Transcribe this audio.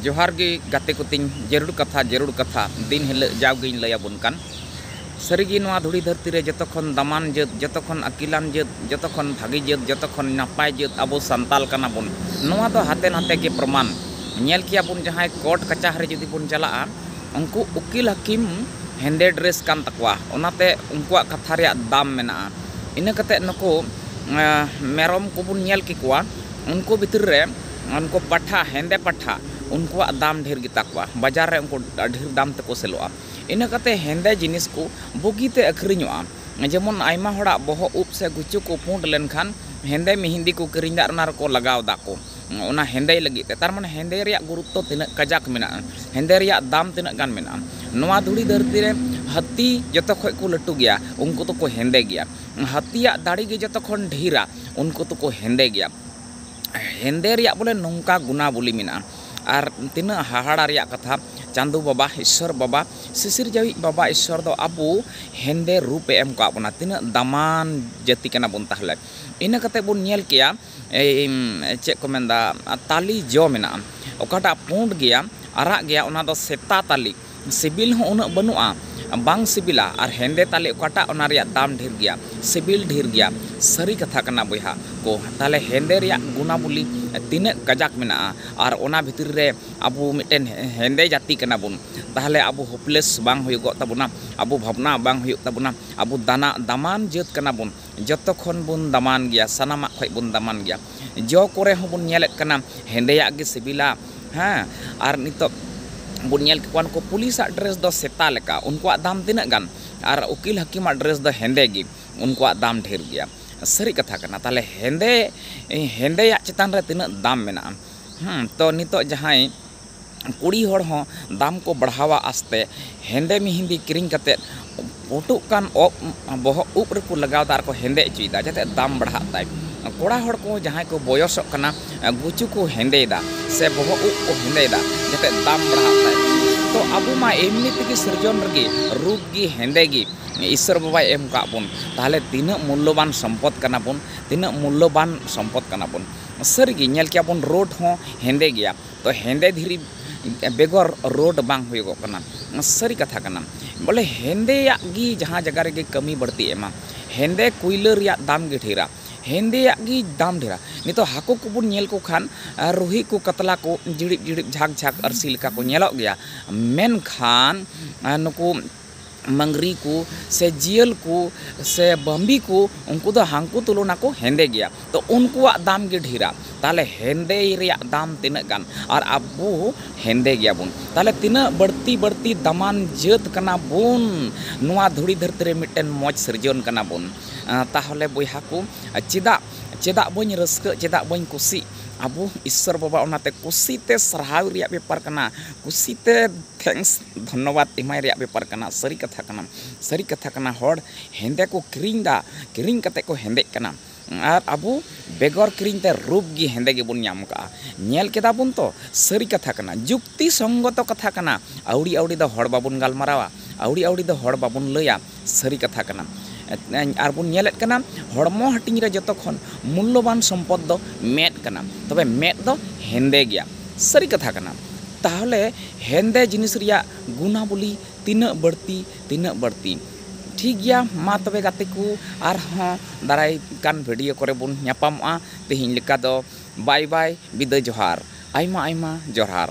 ᱡᱚᱦᱟᱨ ᱜᱮ ᱜᱟᱛᱮ ᱠᱚ ᱛᱤᱧ ᱡᱟᱹᱨᱩᱲ ᱠᱟᱛᱷᱟ ᱡᱟᱹᱨᱩᱲ ᱠᱟᱛᱷᱟ ᱫᱤᱱ ᱦᱤᱞᱟᱹᱜ ᱡᱟᱣ ᱜᱮᱧ ᱞᱟᱹᱭ ᱟᱵᱚᱱ ᱠᱟᱱ ᱥᱟᱹᱨᱤ ᱜᱮ ᱱᱚᱣᱟ ᱫᱷᱩᱲᱤ ᱫᱷᱟᱹᱨᱛᱤ ᱨᱮ ᱡᱚᱛᱚ ᱠᱷᱚᱱ ᱫᱟᱢᱟᱱ ᱡᱟᱹᱛ ᱡᱚᱛᱚ ᱠᱷᱚᱱ ᱟᱹᱠᱤᱞᱟᱱ ᱡᱟᱹᱛ ᱡᱚᱛᱚ ᱠᱷᱚᱱ ᱵᱷᱟᱹᱜᱤ ᱡᱟᱹᱛ ᱡᱚᱛᱚ ᱠᱷᱚᱱ ᱱᱟᱯᱟᱭ ᱡᱟᱹᱛ ᱟᱵᱚ ᱥᱟᱱᱛᱟᱞ ᱠᱟᱱᱟ ᱵᱚᱱ ᱱᱚᱣᱟ ᱫᱚ ᱦᱟᱛᱮ ᱱᱟᱛᱮ ᱜᱮ ᱯᱨᱚᱢᱟᱱ ᱧᱮᱞ ᱠᱮᱭᱟ ᱵᱚᱱ ᱡᱟᱦᱟᱸᱭ ᱠᱳᱨᱴ ᱠᱟᱪᱟᱦᱟᱨᱤ ᱡᱩᱫᱤ ᱵᱚᱱ ᱪᱟᱞᱟᱜᱼᱟ ᱩᱱᱠᱩ ᱩᱠᱤᱞ ᱦᱟᱹᱠᱤᱢ ᱦᱮᱸᱫᱮ ᱰᱨᱮᱥ ᱠᱟᱱ ᱛᱟᱠᱚᱣᱟ ᱚᱱᱟ ᱛᱮ ᱩᱱᱠᱩᱣᱟᱜ ᱠᱟᱛᱷᱟ ᱨᱮᱭᱟᱜ ᱫᱟᱢ ᱢᱮᱱᱟᱜᱼᱟ ᱤᱱᱟᱹ ᱠᱟᱛᱮ ᱱᱩᱠᱩ ᱢᱮᱨᱚᱢ ᱠᱚᱵᱚᱱ ᱧᱮᱞ ᱠᱮᱠᱚᱣᱟ ᱩᱱᱠᱩ ᱵᱷᱤᱛᱨᱤ ᱨᱮ ᱩᱱᱠᱩ ᱯᱟᱴᱷᱟ ᱦᱮᱸᱫᱮ ᱯᱟᱴᱷᱟ ᱩᱱᱠᱩᱣᱟᱜ ᱫᱟᱢ ᱰᱷᱮᱨ ᱜᱮᱛᱟ ᱠᱚᱣᱟ ᱵᱟᱡᱟᱨ ᱨᱮ ᱩᱱᱠᱩ ᱰᱷᱮᱨ ᱫᱟᱢ ᱛᱮᱠᱚ ᱥᱮᱞᱚᱜᱼᱟ ᱤᱱᱟᱹ ᱠᱟᱛᱮᱫ ᱦᱮᱸᱫᱮ ᱡᱤᱱᱤᱥ ᱠᱚ ᱵᱩᱜᱤ ᱛᱮ ᱟᱹᱠᱷᱨᱤᱧᱚᱜᱼᱟ ᱡᱮᱢᱚᱱ ᱟᱭᱢᱟ ᱦᱚᱲᱟᱜ ᱵᱚᱦᱚᱜ ᱩᱵ ᱥᱮ ᱜᱩᱪᱩ ᱠᱚ ᱯᱩᱸᱰ ᱞᱮᱱᱠᱷᱟᱱ ᱦᱮᱸᱫᱮ ᱢᱤᱦᱤᱸᱫᱤ ᱠᱚ ᱠᱤᱨᱤᱧ ᱮᱫᱟ ᱟᱨ ᱚᱱᱟ ᱨᱮᱠᱚ ᱞᱟᱜᱟᱣ ᱮᱫᱟ ᱠᱚ ᱚᱱᱟ ᱦᱮᱸᱫᱮᱭ ᱞᱟᱹᱜᱤᱫ ᱛᱮ ᱛᱟᱨᱢᱟᱱᱮ ᱦᱮᱸᱫᱮ ᱨᱮᱭᱟᱜ ᱜᱩᱨᱩᱛᱛᱚ ᱛᱤᱱᱟᱹᱜ ᱠᱟᱡᱟᱠ ᱢᱮᱱᱟᱜᱼᱟ ᱦᱮᱸᱫᱮ ᱨᱮᱭᱟᱜ ᱫᱟᱢ ᱛᱤᱱᱟᱹᱜ ᱜᱟᱱ ᱢᱮᱱᱟᱜᱼᱟ ᱱᱚᱣᱟ ᱫᱷᱩᱲᱤ ᱫᱷᱟᱹᱨᱛᱤ ᱨᱮ ᱦᱟᱹᱛᱤ ᱡᱚᱛᱚ ᱠᱷᱚᱱ ᱠᱚ ᱞᱟᱹᱴᱩ ᱜᱮᱭᱟ ᱩᱱᱠᱩ ᱫᱚᱠᱚ ᱦᱮᱸᱫᱮ ᱜᱮᱭᱟ ᱦᱟᱹᱛᱤᱭᱟᱜ ᱫᱟᱲᱮ ᱜᱮ ᱡᱚᱛᱚ ᱠᱷᱚᱱ ᱰᱷᱮᱨᱟ ᱩᱱᱠᱩ ᱫᱚᱠᱚ ᱦᱮᱸᱫᱮ ᱜᱮᱭᱟ ᱦᱮᱸᱫᱮ ᱨᱮᱭᱟᱜ ᱵᱚᱞᱮ ᱱᱚᱝᱠᱟ ᱜᱩᱱᱟᱵᱚᱞᱤ ᱢᱮᱱᱟᱜᱼᱟ ᱟᱨ ᱛᱤᱱᱟᱹᱜ ᱦᱟᱦᱟᱲᱟ ᱨᱮᱭᱟᱜ ᱠᱟᱛᱷᱟ ᱪᱟᱸᱫᱚ ᱵᱟᱵᱟ ᱤᱥᱥᱚᱨ ᱵᱟᱵᱟ ᱥᱤᱥᱤᱨᱡᱟᱹᱣᱤᱡ ᱵᱟᱵᱟ ᱤᱥᱥᱚᱨ ᱫᱚ ᱟᱵᱚ ᱦᱮᱸᱫᱮ ᱨᱩᱯᱮ ᱮᱢ ᱟᱠᱟᱫ ᱵᱚᱱᱟ ᱛᱤᱱᱟᱹᱜ ᱫᱟᱢᱟᱱ ᱡᱟᱹᱛᱤ ᱠᱟᱱᱟ ᱵᱚᱱ ᱛᱟᱦᱚᱞᱮ ᱤᱱᱟᱹ ᱠᱟᱛᱮ ᱵᱚᱱ ᱧᱮᱞ ᱠᱮᱭᱟ ᱪᱮᱫ ᱠᱚ ᱢᱮᱱᱫᱟ ᱛᱟᱞᱮ ᱡᱚ ᱢᱮᱱᱟᱜᱼᱟ ᱚᱠᱟᱴᱟᱜ ᱯᱩᱸᱰ ᱜᱮᱭᱟ ᱟᱨᱟᱜ ᱜᱮᱭᱟ ᱚᱱᱟ ᱫᱚ ᱥᱮᱛᱟ ᱛᱟᱞᱮ ᱥᱤᱵᱤᱞ ᱦᱚᱸ ᱩᱱᱟᱹᱜ ᱵᱟᱹᱱᱩᱜᱼᱟ᱾ ᱵᱟᱝ ᱥᱤᱵᱤᱞᱟ᱾ ᱟᱨ ᱦᱮᱸᱫᱮ ᱛᱟᱞᱮ ᱚᱠᱟᱴᱟᱜ ᱚᱱᱟ ᱨᱮᱭᱟᱜ ᱫᱟᱢ ᱰᱷᱮᱨ ᱜᱮᱭᱟ᱾ ᱥᱤᱵᱤᱞ ᱰᱷᱮᱨ ᱜᱮᱭᱟ᱾ ᱥᱟᱹᱨᱤ ᱠᱟᱛᱷᱟ ᱠᱟᱱᱟ ᱵᱚᱭᱦᱟ ᱠᱚ᱾ ᱛᱟᱦᱞᱮ ᱦᱮᱸᱫᱮ ᱨᱮᱭᱟᱜ ᱜᱩᱱᱟᱵᱚᱞᱤ ᱛᱤᱱᱟᱹᱜ ᱠᱟᱡᱟᱠ ᱢᱮᱱᱟᱜᱼᱟ᱾ ᱟᱨ ᱚᱱᱟ ᱵᱷᱤᱛᱨᱤ ᱨᱮ ᱟᱵᱚ ᱢᱤᱫᱴᱮᱱ ᱦᱮᱸᱫᱮ ᱡᱟᱹᱛᱤ ᱠᱟᱱᱟ ᱵᱚᱱ᱾ ᱛᱟᱦᱞᱮ ᱟᱵᱚ ᱦᱳᱯᱞᱮᱥ ᱵᱟᱝ ᱦᱩᱭᱩᱜᱚᱜ ᱛᱟᱵᱚᱱᱟ᱾ ᱟᱵᱚ ᱵᱷᱟᱵᱽᱱᱟ ᱵᱟᱝ ᱦᱩᱭᱩᱜ ᱛᱟᱵᱚᱱᱟ᱾ ᱟᱵᱚ ᱫᱟᱱᱟᱜ ᱫᱟᱢᱟᱱ ᱡᱟᱹᱛ ᱠᱟᱱᱟ ᱵᱚᱱ᱾ ᱡᱚᱛᱚ ᱠᱷᱚᱱ ᱵᱚᱱ ᱫᱟᱢᱟᱱ ᱜᱮᱭᱟ ᱥᱟᱱᱟᱢᱟᱜ ᱠᱷᱚᱱ ᱵᱚᱱ ᱫᱟᱢᱟᱱ ᱜᱮᱭᱟ ᱡᱚ ᱠᱚᱨᱮ ᱦᱚᱸ ᱵᱚᱱ ᱧᱮᱞᱮᱫ ᱠᱟᱱᱟ ᱦᱮᱸᱫᱮᱭᱟᱜ ᱜᱮ ᱥᱤᱵᱤᱞᱟ ᱦᱮᱸ ᱟᱨ ᱱᱤᱛᱚᱜ ᱵᱚᱱ ᱧᱮᱞ ᱠᱮᱫ ᱠᱚᱣᱟ ᱱᱩᱠᱩ ᱯᱩᱞᱤᱥ ᱟᱜ ᱰᱨᱮᱥ ᱫᱚ ᱥᱮᱛᱟ ᱞᱮᱠᱟ ᱩᱱᱠᱩᱣᱟᱜ ᱫᱟᱢ ᱛᱤᱱᱟᱹᱜ ᱜᱟᱱ ᱟᱨ ᱩᱠᱤᱞ ᱦᱟᱹᱠᱤᱢ ᱟᱜ ᱰᱨᱮᱥ ᱫᱚ ᱦᱮᱸᱫᱮ ᱜᱮ ᱩᱱᱠᱩᱣᱟᱜ ᱫᱟᱢ ᱰᱷᱮᱨ ᱜᱮᱭᱟ ᱥᱟᱹᱨᱤ ᱠᱟᱛᱷᱟ ᱠᱟᱱᱟ ᱛᱟᱦᱚᱞᱮ ᱦᱮᱸᱫᱮ ᱦᱮᱸᱫᱮᱭᱟᱜ ᱪᱮᱛᱟᱱ ᱨᱮ ᱛᱤᱱᱟᱹᱜ ᱫᱟᱢ ᱢᱮᱱᱟᱜᱼᱟ ᱛᱚ ᱱᱤᱛᱚᱜ ᱡᱟᱦᱟᱸᱭ ᱠᱩᱲᱤ ᱦᱚᱲ ᱦᱚᱸ ᱫᱟᱢ ᱠᱚ ᱵᱟᱲᱦᱟᱣᱟ ᱟᱥᱛᱮ ᱦᱮᱸᱫᱮ ᱢᱤᱦᱤᱸᱫᱤ ᱠᱤᱨᱤᱧ ᱠᱟᱛᱮᱫ ᱯᱩᱴᱩᱜ ᱠᱟᱱ ᱚᱜ ᱵᱚᱦᱚᱜ ᱩᱵ ᱨᱮᱠᱚ ᱞᱟᱜᱟᱣᱫᱟ ᱟᱨ ᱠᱚ ᱦᱮᱸᱫᱮ ᱚᱪᱚᱭᱮᱫᱟ ᱡᱟᱛᱮ ᱫᱟᱢ ᱵᱟᱲᱦᱟᱜ ᱛᱟᱭ ᱠᱚᱲᱟ ᱦᱚᱲ ᱠᱚ ᱡᱟᱦᱟᱸᱭ ᱠᱚ ᱵᱚᱭᱚᱥᱚᱜ ᱠᱟᱱᱟ ᱜᱩᱪᱩ ᱠᱚ ᱦᱮᱸᱫᱮᱭᱮᱫᱟ ᱥᱮ ᱵᱚᱦᱚᱜ ᱩᱵ ᱠᱚ ᱦᱮᱸᱫᱮᱭᱮᱫᱟ ᱡᱟᱛᱮ ᱫᱟᱢ ᱵᱟᱲᱦᱟᱜ ᱛᱟᱭ ᱛᱚ ᱟᱵᱚ ᱢᱟ ᱮᱢᱱᱤ ᱛᱮᱜᱮ ᱥᱤᱨᱡᱚᱱ ᱨᱮᱜᱮ ᱨᱩᱯ ᱜᱮ ᱦᱮᱸᱫᱮ ᱜᱮ ᱤᱥᱥᱚᱨ ᱵᱟᱵᱟᱭ ᱮᱢ ᱟᱠᱟᱫ ᱵᱚᱱ ᱛᱟᱦᱚᱞᱮ ᱛᱤᱱᱟᱹᱜ ᱢᱩᱞᱞᱚᱵᱟᱱ ᱥᱚᱢᱯᱚᱫ ᱠᱟᱱᱟ ᱵᱚᱱ ᱛᱤᱱᱟᱹᱜ ᱢᱩᱞᱞᱚᱵᱟᱱ ᱥᱚᱢᱯᱚᱫ ᱠᱟᱱᱟ ᱵᱚᱱ ᱥᱟᱹᱨᱤ ᱜᱮ ᱧᱮᱞ ᱠᱮᱭᱟ ᱵᱚᱱ ᱨᱳᱰ ᱦᱚᱸ ᱦᱮᱸᱫᱮ ᱜᱮᱭᱟ ᱛᱚ ᱦᱮᱸᱫᱮ ᱫᱷᱤᱨᱤ ᱵᱮᱜᱚᱨ ᱨᱳᱰ ᱵᱟᱝ ᱦᱩᱭᱩᱜ ᱠᱟᱱᱟ ᱥᱟᱹᱨᱤ ᱠᱟᱛᱷᱟ ᱠᱟᱱᱟ ᱵᱚᱞᱮ ᱦᱮᱸᱫᱮᱭᱟᱜ ᱜᱮ ᱡᱟᱦᱟᱸ ᱡᱟᱭᱜᱟ ᱨᱮᱜᱮ ᱠᱟᱹᱢᱤ ᱵᱟᱹᱲᱛᱤ ᱮᱢᱟ ᱦᱮᱸᱫᱮ ᱠᱚᱭᱞᱟ ᱨᱮᱭᱟᱜ ᱫᱟᱢ ᱜᱮ ᱰᱷᱮᱨᱟ ᱦᱮᱸᱫᱮᱭᱟᱜ ᱜᱮ ᱫᱟᱢ ᱰᱷᱮᱨᱟ ᱱᱤᱛᱚᱜ ᱦᱟᱹᱠᱩ ᱠᱚᱵᱚᱱ ᱧᱮᱞ ᱠᱚ ᱠᱷᱟᱱ ᱨᱩᱦᱤ ᱠᱚ ᱠᱟᱛᱞᱟ ᱠᱚ ᱡᱤᱲᱤᱫ ᱡᱤᱲᱤᱫ ᱡᱷᱟᱠ ᱡᱷᱟᱠ ᱟᱹᱨᱥᱤ ᱞᱮᱠᱟ ᱠᱚ ᱧᱮᱞᱚᱜ ᱜᱮᱭᱟ ᱢᱮᱱᱠᱷᱟᱱ ᱱᱩᱠᱩ ᱢᱟᱝᱜᱽᱨᱤ ᱠᱚ ᱥᱮ ᱡᱤᱭᱟᱹᱞ ᱠᱚ ᱥᱮ ᱵᱟᱹᱢᱵᱤ ᱠᱚ ᱩᱱᱠᱩ ᱫᱚ ᱦᱟᱹᱠᱩ ᱛᱩᱞᱚᱱᱟ ᱠᱚ ᱦᱮᱸᱫᱮ ᱜᱮᱭᱟ ᱛᱚ ᱩᱱᱠᱩᱣᱟᱜ ᱫᱟᱢ ᱜᱮ ᱰᱷᱮᱨᱟ ᱛᱟᱦᱚᱞᱮ ᱦᱮᱸᱫᱮ ᱨᱮᱭᱟᱜ ᱫᱟᱢ ᱛᱤᱱᱟᱹᱜ ᱜᱟᱱ ᱟᱨ ᱟᱵᱚ ᱦᱮᱸᱫᱮ ᱜᱮᱭᱟ ᱵᱚᱱ ᱛᱟᱦᱚᱞᱮ ᱛᱤᱱᱟᱹᱜ ᱵᱟᱹᱲᱛᱤ ᱵᱟᱹᱲᱛᱤ ᱫᱟᱢᱟᱱ ᱡᱟᱹᱛ ᱠᱟᱱᱟ ᱵᱚᱱ ᱱᱚᱣᱟ ᱫᱷᱩᱲᱤ ᱫᱷᱟᱹᱨᱛᱤ ᱨᱮ ᱢᱤᱫᱴᱮᱱ ᱢᱚᱡᱽ ᱥᱤᱨᱡᱚᱱ ᱠᱟᱱᱟ ᱵᱚᱱ ᱛᱟᱦᱚᱞᱮ ᱵᱚᱭᱦᱟ ᱠᱚ ᱪᱮᱫᱟᱜ ᱪᱮᱫᱟᱜ ᱵᱟᱹᱧ ᱨᱟᱹᱥᱠᱟᱹᱜ ᱪᱮᱫᱟᱜ ᱵᱟᱹᱧ ᱠᱩᱥᱤᱜ ᱟᱵᱚ ᱤᱥᱥᱚᱨ ᱵᱟᱵᱟ ᱚᱱᱟᱛᱮ ᱠᱩᱥᱤ ᱛᱮ ᱥᱟᱨᱦᱟᱣ ᱨᱮᱭᱟᱜ ᱵᱮᱯᱟᱨ ᱠᱟᱱᱟ ᱠᱩᱥᱤ ᱛᱮ ᱛᱷᱮᱝᱠᱥ ᱫᱷᱚᱱᱱᱚᱵᱟᱫᱽ ᱮᱢᱟᱭ ᱨᱮᱭᱟᱜ ᱵᱮᱯᱟᱨ ᱠᱟᱱᱟ ᱥᱟᱹᱨᱤ ᱠᱟᱛᱷᱟ ᱠᱟᱱᱟ ᱥᱟᱹᱨᱤ ᱠᱟᱛᱷᱟ ᱠᱟᱱᱟ ᱦᱚᱲ ᱦᱮᱸᱫᱮ ᱠᱚ ᱠᱤᱨᱤᱧ ᱮᱫᱟ ᱠᱤᱨᱤᱧ ᱠᱟᱛᱮ ᱠᱚ ᱦᱮᱸᱫᱮᱜ ᱠᱟᱱᱟ ᱟᱨ ᱟᱵᱚ ᱵᱮᱜᱚᱨ ᱠᱤᱨᱤᱧ ᱛᱮ ᱨᱩᱯ ᱜᱮ ᱦᱮᱸᱫᱮ ᱜᱮᱵᱚᱱ ᱧᱟᱢ ᱟᱠᱟᱫᱼᱟ ᱧᱮᱞ ᱠᱮᱫᱟ ᱵᱚᱱ ᱛᱚ ᱥᱟᱹᱨᱤ ᱠᱟᱛᱷᱟ ᱠᱟᱱᱟ ᱡᱩᱠᱛᱤ ᱥᱚᱝᱜᱚᱛᱚ ᱠᱟᱛᱷᱟ ᱠᱟᱱᱟ ᱟᱹᱣᱲᱤ ᱟᱹᱣᱲᱤ ᱫᱚ ᱦᱚᱲ ᱵᱟᱵᱚᱱ ᱜᱟᱞᱢᱟᱨᱟᱣᱟ ᱟᱹᱣᱲᱤ ᱟᱹᱣᱲᱤ ᱫᱚ ᱦᱚᱲ ᱵᱟᱵᱚᱱ ᱞᱟᱹᱭᱟ ᱥᱟᱹᱨᱤ ᱠᱟᱛᱷᱟ ᱠᱟᱱᱟ ᱟᱨ ᱵᱚᱱ ᱧᱮᱞᱮᱫ ᱠᱟᱱᱟ ᱦᱚᱲᱢᱚ ᱦᱟᱹᱴᱤᱧ ᱨᱮ ᱡᱚᱛᱚ ᱠᱷᱚᱱ ᱢᱩᱞᱞᱚᱵᱟᱱ ᱥᱚᱢᱯᱚᱫᱽ ᱫᱚ ᱢᱮᱫ ᱠᱟᱱᱟ ᱛᱚᱵᱮ ᱢᱮᱫ ᱫᱚ ᱦᱮᱸᱫᱮ ᱜᱮᱭᱟ ᱥᱟᱹᱨᱤ ᱠᱟᱛᱷᱟ ᱠᱟᱱᱟ ᱛᱟᱦᱚᱞᱮ ᱦᱮᱸᱫᱮ ᱡᱤᱱᱤᱥ ᱨᱮᱭᱟᱜ ᱜᱩᱱᱟᱵᱚᱞᱤ ᱛᱤᱱᱟᱹᱜ ᱵᱟᱹᱲᱛᱤ ᱛᱤᱱᱟᱹᱜ ᱵᱟᱹᱲᱛᱤ ᱴᱷᱤᱠ ᱜᱮᱭᱟ ᱢᱟ ᱛᱚᱵᱮ ᱜᱟᱛᱮ ᱠᱚ ᱟᱨᱦᱚᱸ ᱫᱟᱨᱟᱭ ᱠᱟᱱ ᱵᱷᱤᱰᱭᱳ ᱠᱚᱨᱮ ᱵᱚᱱ ᱧᱟᱯᱟᱢᱚᱜᱼᱟ ᱛᱮᱦᱮᱧ ᱞᱮᱠᱟ ᱫᱚ ᱵᱟᱭ ᱵᱟᱭ ᱵᱤᱫᱟᱹᱭ ᱡᱚᱦᱟᱨ ᱟᱭᱢᱟ ᱟᱭᱢᱟ ᱡᱚᱦᱟᱨ